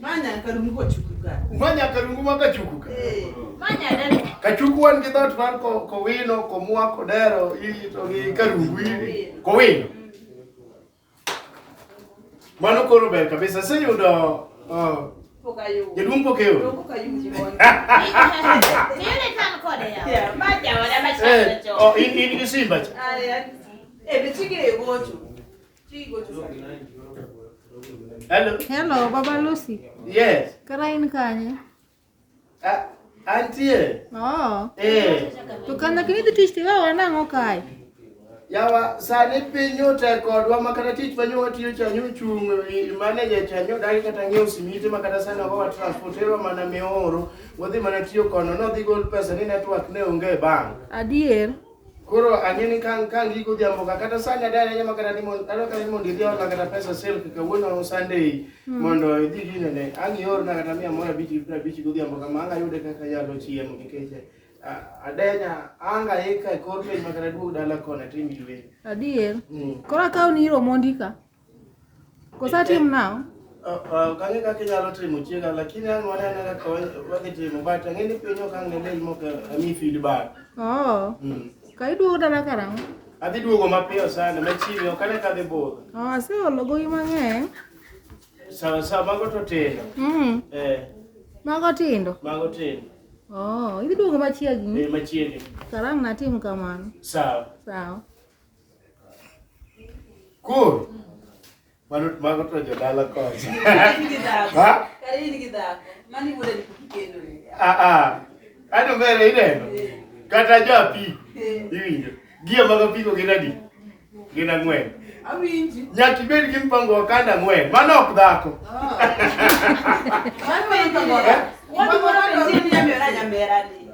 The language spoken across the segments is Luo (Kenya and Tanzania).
Manya karungu kochukuka. Manya karungu ma kachukuka. Eh. Manya dero. Kachuku wan gi dot man ko ko wino ko mwa ko dero ili to gi karungu ili. Ko wino. Mano koro ber kabisa. Sasa yudo uh, Jaduong' pok eyudo. In gi simba cha. Eh, Hello. Hello, Baba Lucy. Yes. Kara in kanye? Ah, antie. Oh. Eh. To kana kini dhi tich tiwa wanang'o kae? Yawa sani piny otek kodwa ma kata tich manyo watiyo cha nyo chung e, manager cha nyo dagi kata ng'iewo simiti ma kata sani okowa transportero mana mioro wadhi mana tiyo kono nodhi gol pesa ni network ne onge e bank. Adier. Koro ang'e ni kang' kang' giko jambo ka kata sani adhi ahinya ma kata ni mondo adwa kata ni mondo idhi orna kata pesa silk kawuono Sunday hmm. mondo idhi gine ne ang' iorna kata mia moro abich gi piero abich godhiambo kama ang' ayude kaka yalo chiemo nikech adenya anga ika e kor piny ma kata duog dala kona tim ywe. Adier. Hmm. Koro akaw ni iro mondika. Kosatim nao? Kang'e kaka inyalo timo chiega lakini an wanene kaka wadhi timo but ang'e ni piny ok ang' ne del moko ami feedback. Oh. Mm. Ka iduogo dala karang'o? Adhi duogo mapiyo sana machiegni ok ane kadhi budho. Oh, aseolo gowi mang'eny. Sawa sawa mago to tindo. Mm. Eh. Mago tindo. Mago tindo. Oh, idhi duogo machiegni? Eh, machiegni. Karang' natim kamano. Sawa. Sawa. Cool. Mano mago to jodala kocha. Ha? Karini gi dhako. Mani wuode ni kikendo ni. Ah ah. Ano mere ineno. Kata japi. Iwinjo. Gie mago piko gin adi? Gin ang'wen. Awinji. Nyaka ibed gi mpango wa kanda ang'wen. Mano ok dhako. Mano mano mano. Watu wana penzi ni nyamera nyamera ni.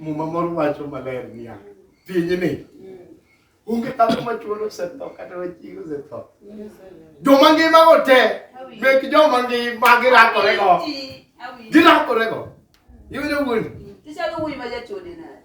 Muma moro wacho maler niya, pinyni onge dhako ma chuor osetho kata ma chiege osetho. Joma ngima go te, mek joma ngima girakore go. Girakore go. Iwinjo wuondi? Tichalo wuoyi ma jachode nade?